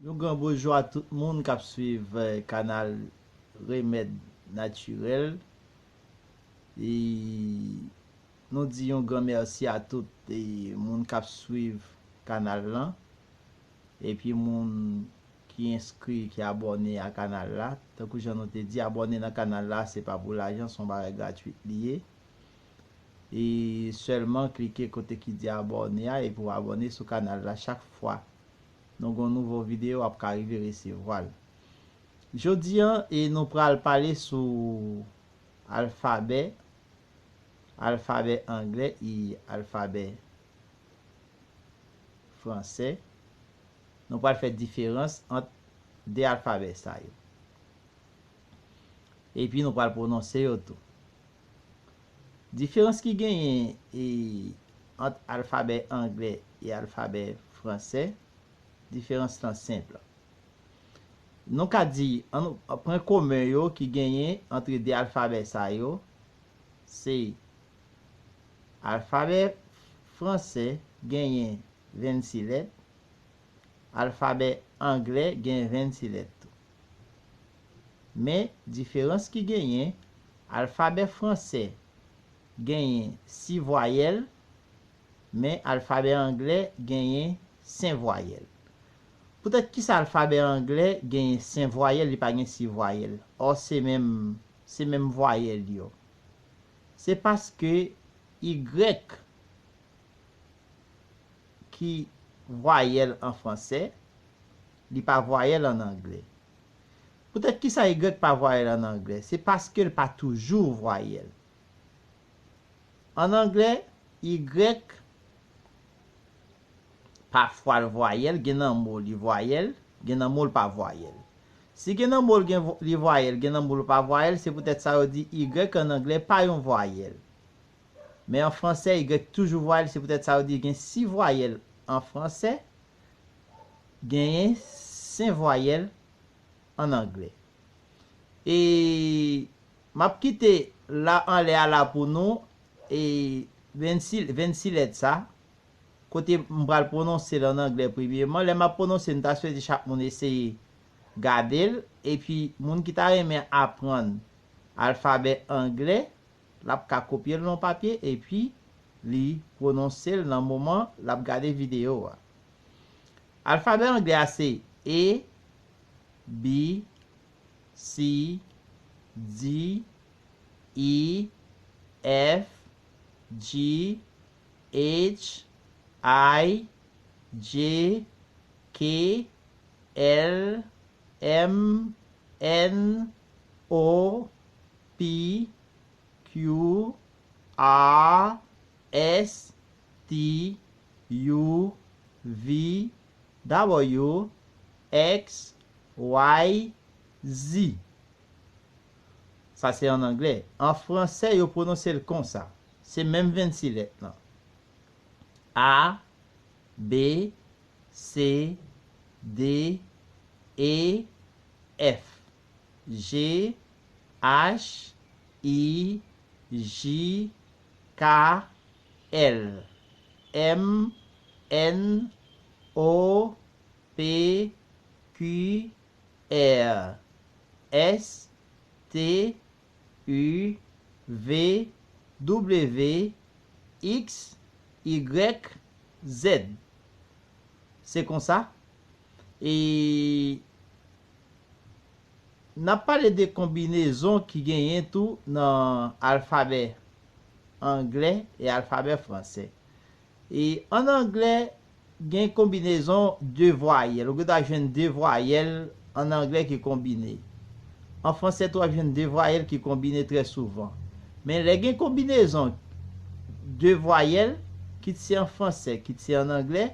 Nou gran boujwa tout moun kap swiv kanal remed natirel e nou di yon gran merci a tout moun kap swiv kanal lan epi moun ki enskri ki abòne a kanal la tankou jan nou te di abòne nan kanal la se pa pou lajan son bagay gratuit li ye e sèlman klike kote ki di abòne a epi w abòne sou kanal la chak fwa Nou gon nouvo video wap ka rive resevwal. Jodi an e nou pral pale sou alfabè, alfabè anglè e alfabè fransè. Nou pral fè diferans ant 2 alfabè sa yo. Epi nou pral pwononse yo tou. Diferans ki genyen ant alfabè angle e alfabè franse, diferans lan senp. Nou ka di, pwen komen yo ki genyen antre de alfabè sa yo, se alfabè franse genyen 26 lèt, alfabè angle genyen 26 lèt tou. Men, diferans ki genyen, alfabè franse genyen si vwayèl, men alfabè angle genyen sen vwayèl. Poutèt kisa alfabè angle genyen sen vwayèl, li pa gen si vwayèl, ò se menm, se menm vwayèl yo? Se paske igrèk ki vwayèl an franse, li pa vwayèl an angle. Poutèt ki sa y pa vwayèl an angle? Se paske l pa toujou vwayèl. An angle, y pafwa l vwayèl, gen nan mo li vwayèl, gen nan mo l pa vwayèl. Si gen nan mo l gen li vwayèl, gen nan mo l pa vwayèl, se poutèt sa yo di y an angle pa yon vwayèl. Men an franse, y toujou vwayèl, se poutèt sa yo di gen si vwayèl an franse, genyen sen vwayèl an anglè. E m ap kite la anlè a la pou nou, e vensi, vensi lèt sa, kote m pral pwononse l an anglè premyeman. Lè m ap pwononse, m ta swete chak moun eseye gade l. Epi moun ki ta renmen aprann alfabè anglè, L ap ka kopye l nan papye epi li pwononse l nan moman l ap gade videyo a. Alfabè anglè a se A, B, C, D, E, F, G, H, I, J, K, L, M, N, O, P, Q, R, S, T, U, V, W, X, Y, Z. Sa se an anglè. An franse yo pwononse l konsa. Se menm 26 lèt lan. A, B, C, D, E, F. G H I J K L M N O P Q R S T U, V, W, X, Y, Z. Se konsa, e n ap pale de konbinezon ki genyen tou nan alfabè angle e alfabè franse. E an anglè, gen konbinezon de vwayèl. Ou gen dwa jwenn de vwayèl an anglè ki konbine. An franse tou, w ap jwenn de vwayèl ki konbine trè souvan. Men lè gen konbinezon de vwayèl, kit se an franse, kit se an anglè,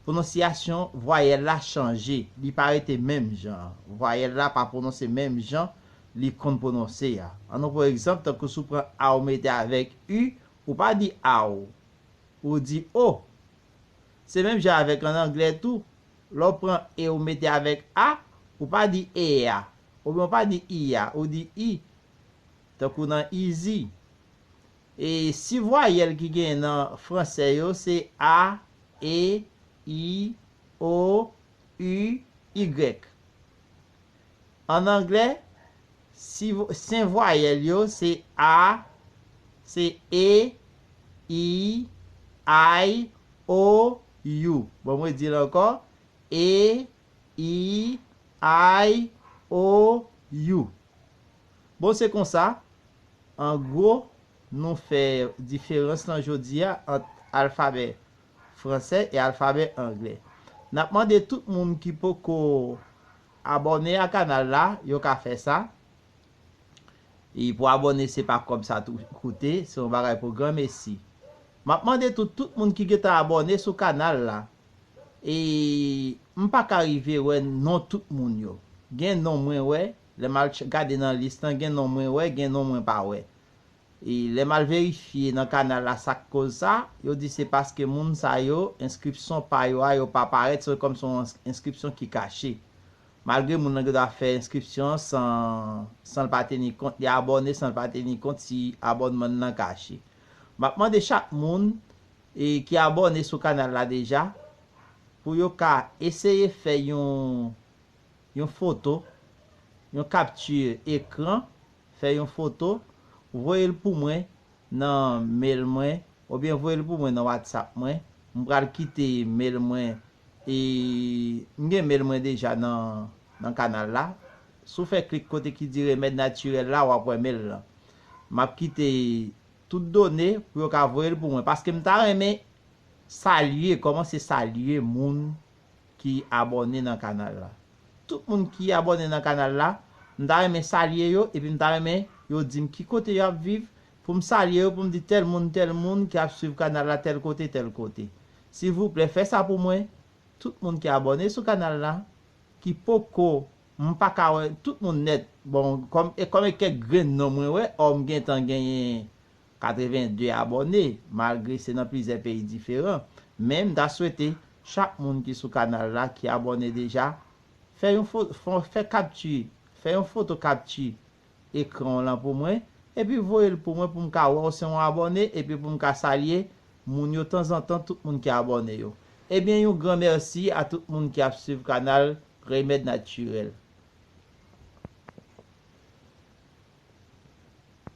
pwononsyasyon vwayèl la chanje. Li pa rete menm jan an. Vwayèl la pa pwononse menm jan li konn pwononse a. An nou pran egzanp, tankou si w pran a ou mete avèk u, Ou pa di aw. Ou di o. Se menm jan avèk an anglè tou, lè w pran e ou mete avèk a, ou pa di e a, oubyen ou pa di i a, ou di i. Tankou nan izi. E si vwayèl ki genyen nan franse yo se a, e, i, o, u, y. An anglè, si sen vwayèl yo se a, se e, i, ay, o, you. Bon mwen di l ankò, e, i, ay, o, you. Bon se konsa, an gwo, nou fè diferans lan jodi a ant alfabè fransè e alfabè anglè. Nap mande tout moun ki poko abòne a kanal la yo ka fè sa e pou abòne se pa kòb sa tou koute se yon bagay pou gran mesi. Map mande tou tout moun ki gentan abòne sou kanal la e m paka rive wè non tout moun yo gen non mwen wè lè mal gade nan lis lan gen non mwen wè gen non mwen pa wè Lè m al verifye nan kanal la sa k koz sa, yo di se paske moun sa yo, enskripson pa yo a yo pa parèt, se kòm se yon enskripsyon ki kache. Malgre moun nan gen dwa fè enskripsyon an san san l pa teni kont li abòne, san l pa teni kont si abònman n nan kache. M ap mande chak moun ki abòne sou kanal la deja pou yo ka eseye fè yon yon foto, yon capture ecran Fè yon foto, voye l pou mwen nan mail mwen oubyen voye l pou mwen nan whatsapp mwen, m pral kite mail mwen e m gen mail mwen deja nan kanal la, si w fè klik kote ki di remèd natirèl la wap wè mail lan, m ap kite tout done pou yo ka voye l pou mwen paske m ta renmen salye, kòmanse salye moun ki abòne nan kanal la. Tout moun ki abòne nan kanal la, m ta renmen salye yo epi m ta renmen yo di m ki kote yo ap viv pou m salye yo pou m di tèl moun tèl moun ki ap swiv kanal la tèl kote tèl kote. Silvouplè fè sa pou mwen, tout moun ki abòne sou kanal la, ki poko, m pa ka wè tout moun nèt, bon kòm e kòm e kèk grenn non mwen wè, ò m gentan genyen 82 abòne malgre se nan plizyè peyi diferan men m ta swete chak moun ki sou kanal la ki abòne deja fè yon fè kapti fè yon foto kapti ekran w lan pou mwen epi voye l pou mwen pou m ka wè w se yon abòne epi pou m ka salye moun yo tanzantan tout moun ki abòne yo ebyen yon gran mèsi a tout moun ki ap swiv kanal remèd natirèl.